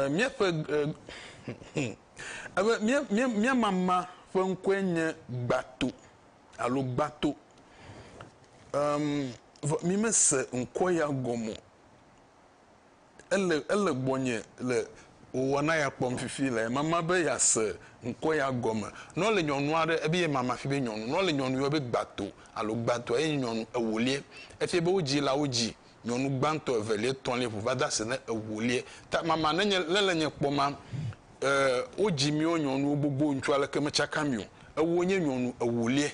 míaƒe, e, hm, ebe mía, mía, mía mama ƒe ŋkɔe nye Gbato. alo gbato. Em, vɔ mi mese ŋkɔ ya gɔme o. Ele, ele gbɔnye le wɔna ya kpɔm fifi le mama be yease ŋkɔ ya gɔme. Ne wole nyɔnu aɖe, ebe ye mama fi be nyɔnu. Ne wole nyɔnu yɔ be gbato alo gbatoa, ye nye nyɔnu ewolie. Efie be wodzi la, wodzi. Nyɔnu gbãtɔ, evelia, etɔ̃lia, ƒo va de ase na ewolia. Ta mama ne nye, ne le nye kpɔ ma, e, wodzi míawo nyɔnuwo gbogbo ŋutsu aleke metsaka mi o. Ewo nye nyɔnu ewolia.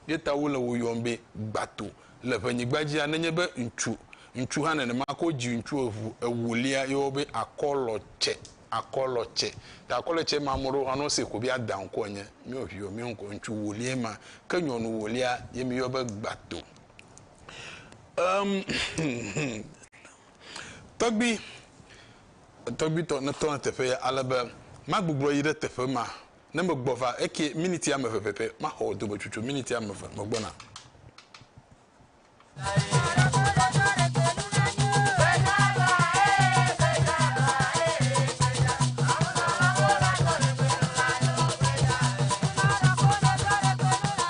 Ye ta wole wo yɔm be gbato. Le ƒe nyigba dzia, ne nye be ŋutsu, ŋutsu hã nenema ke wodzi ŋutsu eŋu ewolia, yɔwo be akɔlɔ tsɛ, akɔlɔ tsɛ. Ta akɔlɔ tsɛ ma, ame ɖewo hã ne wose ko be ada ŋkɔ enye. Míawo viwo, míawo ŋkɔ ŋutsu wolia ma. Ke nyɔnu wolia ye mi yɔ be gbato. Tɔgbui, tɔgbui tɔ ne tɔ ne teƒe ya ale be ma gbugblɔ yi ɖe teƒe ma ne me gbɔ va eke miniti ame eve pɛpɛ ma xɔ do me cucu miniti ame eve me gbɔ na.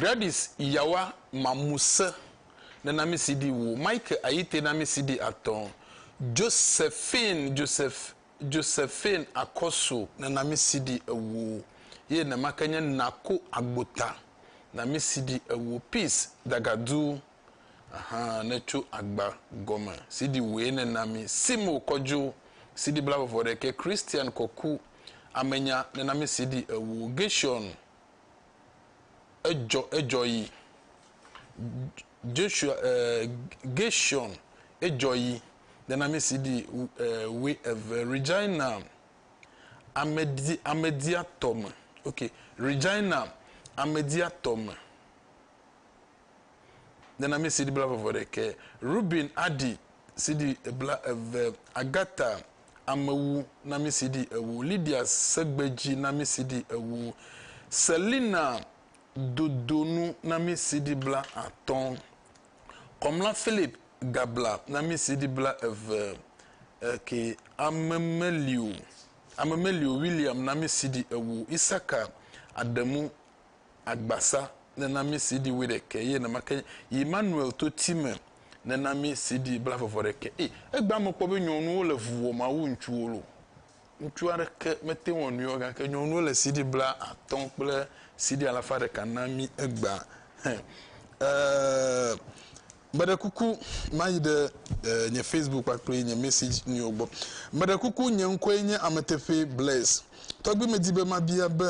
Gladys Yawa Mamuse ne na mí CD wu, Mike Ayite na mí CD atɔ̃, Josephine Joseph Josephine Akɔso ne na mí CD ewo ye nemake nye Nako Agbota na mí CD ewo, Peace Dagadu. Aha ne tso agba gɔme sidi wòe ne na mi sim o kɔdzo sidi bla vɔvɔ ɖekɛ Christian kɔku amenya ne na mi sidi ewo Gershon edzɔ edzɔ yi Joshua eh, Gershon edzɔ yi ne na mi sidi eh, we eve Regina amedi amedia tɔme ok Regina amedia tɔme nana mí sidi blaeve ɖekɛ, Ruben aɖi sidi blaeve, Agatha amewu na mí sidi ewo, Lydia segbedzi na mí sidi ewo, Selina dodonu na mí sidi blaatɔ̃, Kɔmla Philip gabla na mí sidi blaeve, eke Amemelio Amemelio William na mí sidi ewo, Isaka Adamu agbasa nena mí CD wuiɖekɛ ye nemake yi Manuel to ti me nena mí CD blafɔfɔɖekɛ e egbea me kpɔ be nyɔnuwo le vu wɔ ma wu ŋutsuwo lo ŋutsu aɖeke mete wɔ nuyɔ gake nyɔnuwo le CD bla atɔ kple CD alafa ɖeka na mí egbea hɛ e meɖe kuku mayi ɖe e nye Facebook kpakple nye message nuyo gbɔ meɖe kuku nye ŋkɔe nye ameteƒe Blaise tɔgbi medi be mabia be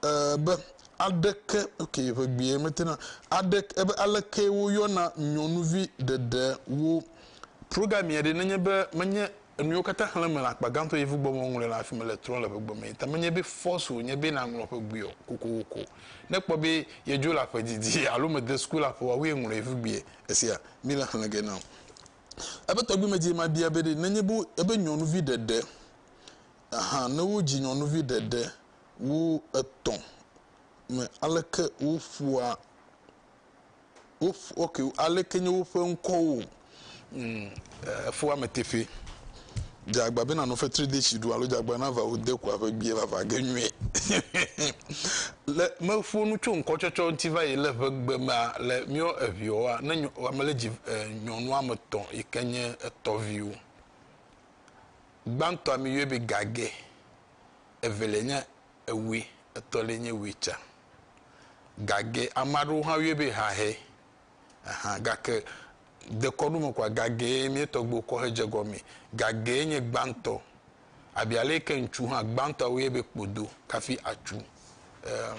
Ee, be, aɖeke, ok, ʋegbee mete na, aɖeke, ebe, alekee woyɔna nyɔnuvi ɖeɖe wo. Progamia ɖe, nenye be menye enuyiwo katã xlẽm mele akpa gãtɔ Yevu gbɔ me woŋlɔe le afi mele trɔm le ƒegbe mee ta menye be force wònye be naŋlɔ ƒegbee o kokoko ne kpɔ be yedzo le aƒe didi alo mede suku le aƒe woawoe ŋlɔ Yevugbee esia mi le xlẽ ge na ebe tɔgbi medie mabia be ɖe nenye be ebe nyɔnuvi ɖeɖe ahan ne wodzi nyɔnuvi ɖeɖe wu etɔ̃ me aleke woƒua woƒu ok aleke nye woƒe ŋkɔwo efua me teƒe dzagba bena nɔ fetri de tsi ɖu alo dzagba na va wo de kua ƒe gbie va va ge nyuie le meƒo nu tso ŋkɔtsɔtsɔ ŋuti va yi le ƒe gbe mea le miɔ eviɔa ne ame le dzi nyɔnu ame etɔ̃ yi ke nye etɔviwo gbãtɔa mi yɔe be gage evelia nye ewui, etɔlia nye wui tsa. Gage ame aɖewo hã yɔe be hahɛ. Aha gake dekɔnu me kɔa gagee mía tɔgbuiwo kɔ hedze gɔmee. Gagee nye gbãtɔ. Abe ale yi ke ŋutsu hã gbãtɔa woyɔe be kpodo kafi atsu. Eem.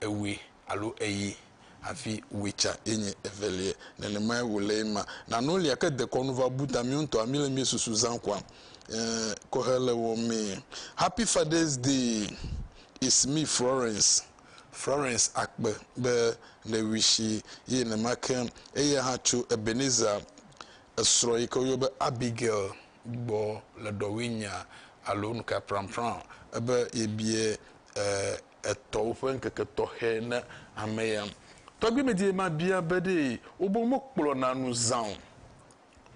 ewui alo eyi. Hafi wui tsã ye nye evelie. Nenemae wòle ye ma. Na no lia ke dekɔ nu va bu ta mìwo ŋutɔa mí le mía susu zã kua e kɔ he le wɔ mɛ. Happy Father's Day it's me Florence Florence akpe be ne wishi ye nema ke eya hã tso Ebenezer esrɔ yi ke wo yɔ be Abigail gbɔ le ɖɔwui nya alo nuka pranpran ebe ye bie e etɔ woƒe ŋkeke tɔxɛ na ame ya. Tɔgbimedzie ma bia be ɖe wobe mo kplɔna nu zã o.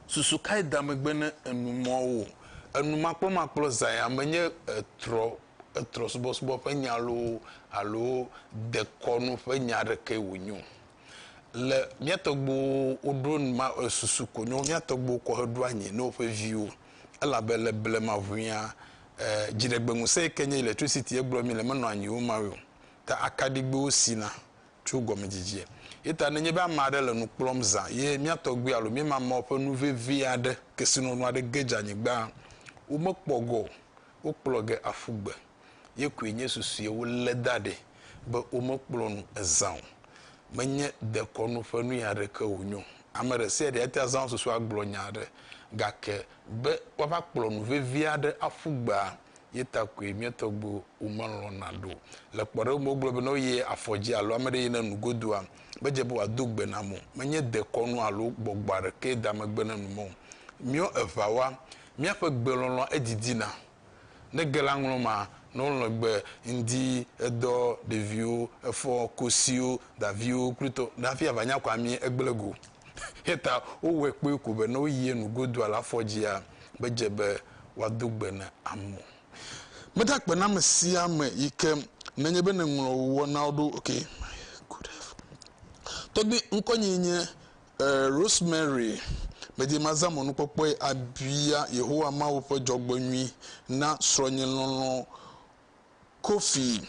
Susu kae da megbe ne enumɔwo? Enumakpɔmakplɔ zã ya menye etrɔ etrɔsubɔsubɔ ƒe nya loo alo dekɔnu ƒe nya aɖekee wònye o. Le mía tɔgbuiwo woɖo ma susu konyo mía tɔgbuiwo kɔ heɖo anyi na woƒe viwo elabe le blema ŋuia dziɖegbeŋusẽ yi ke nye electricity ye gblɔ mí le menɔ anyi wo mawe o. Ta akaɖigbewo sina tso gɔmedzidzie. Yeta nenye be ame aɖe le nu kplɔm zã ye mía tɔgbui alo mía mamao ƒe nu vevi aɖe, kesinɔnu aɖe ge dze anyigbaa, womekpɔ gɔ o, wokplɔ ge aƒu gbe. Ye koe nye susuie wolé da ɖɛ be womekplɔ nu ezã o. Menye dekɔnu ƒe nuyaɖe ke wònyo. Ame ɖesiaɖe ate azã wo susu agblɔ nya aɖe, gake be woava kplɔ nu vevi aɖe aƒu gbea, ye ta koe mía tɔgbuiwo melɔ̃na ɖo. Le kpɔɖeŋu me, wogblɔ be ne woyi afɔ dzi alo ame aɖe yi ne nu godua, medze be wòado gbe nam o. Menye dekɔnu alo gbɔgbɔ aɖekee da megbe ne nu mɔ o. Míɔ eŋawa, míaƒe gbe lɔlɔ̃a edidina. Ne ge la ŋlɔ ma nɔ ŋlɔgbe ŋdi edɔ ɖeviwo efɔ kosiwo daviwo klutɔ dafi ava nya kɔa mi egble go. Yeta wo wɛ kpoe ko be ne wo yie nu godu ala afɔ dzia be dze be wa do gbe ne amo. Meda kpe na me sia me yi ke ne nye be ne ŋlɔ wo wɔnawo ɖo ok my good tɔgbi ŋkɔ nye nye Ɛ̃, Rosemary, medi mazã mɔnukpɔkpɔe abia Yehowa Mawu ƒe dzɔgbenyui na srɔ̃nye lɔlɔ̃ Kofi.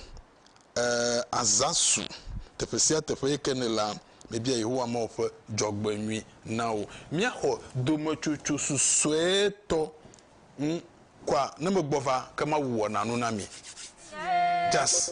Ɛ̃, Azasu, teƒe sia teƒe yi ke nèlea, mebia Yehowa Mawu ƒe dzɔgbenyui na wò. Míaxɔ dometsotso susuetɔ ŋu kɔa ne megbɔ va, ke Mawu wɔna nu na mi. Jas.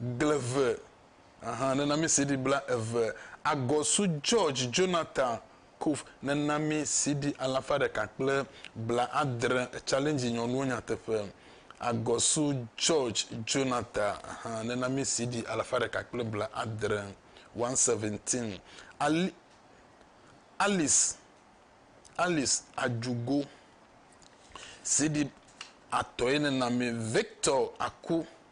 Gleve ahan nena mi CD bla eve. Agɔsu George Jonathan Kuf nena mi CD alafa ɖeka kple bla adre Challenge Nyɔnuwo Nyateƒe. Agɔsu George Jonathan ahan nena mi CD alafa ɖeka kple bla adre, 117. Ali, Alice, Alice Ajugo CD atɔe nena mi. Victor Aku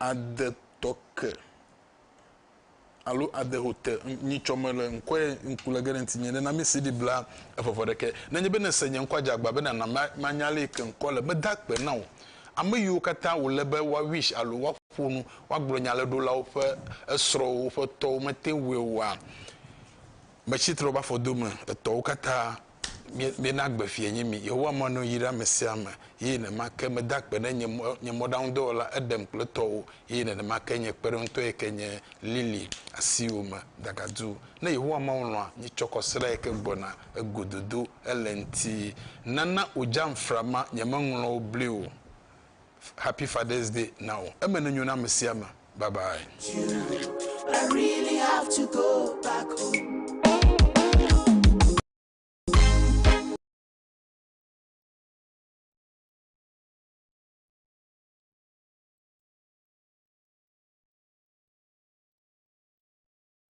ade tɔ ke alo ade ho te nyitsɔ me le ŋkɔe ŋku le ge ɖe ŋtinye ne na mi CD bla eƒeƒe ɖeke. Nenye be nèse nye ŋkɔa dze agba be nàna manya le yi ke ŋkɔ le meda akpe na wò. Ame yiwo katã wòle be woa wish alo woaƒo nu woagblɔ nya le ɖolawo ƒe esrɔ̃wo woƒe tɔwo mete ŋui oa, metsi tre woƒe afɔdome etɔwo katã Míena gbe fiae nye mí. Yehowa mɔ nɔnyi ɖe ame sia ame, eye nenemake meda akpe ɖe nye mɔ, nye mɔɖaŋudɔwɔla Edem kple tɔwò, eye nenemake nye kpeɖeŋutɔ yi ke nye Lily asiwò me dagadu. Ne Yehowa Mawu lɔ̃a nye tsɔkɔsrã yi ke gbɔna egododo ele ŋuti, nana wòdzam fra ma, nyemeŋlɔ wo bli o. Happy Father's Day na wo. Eme nenyo na ame sia ame. Bye bye. I really have to go back home.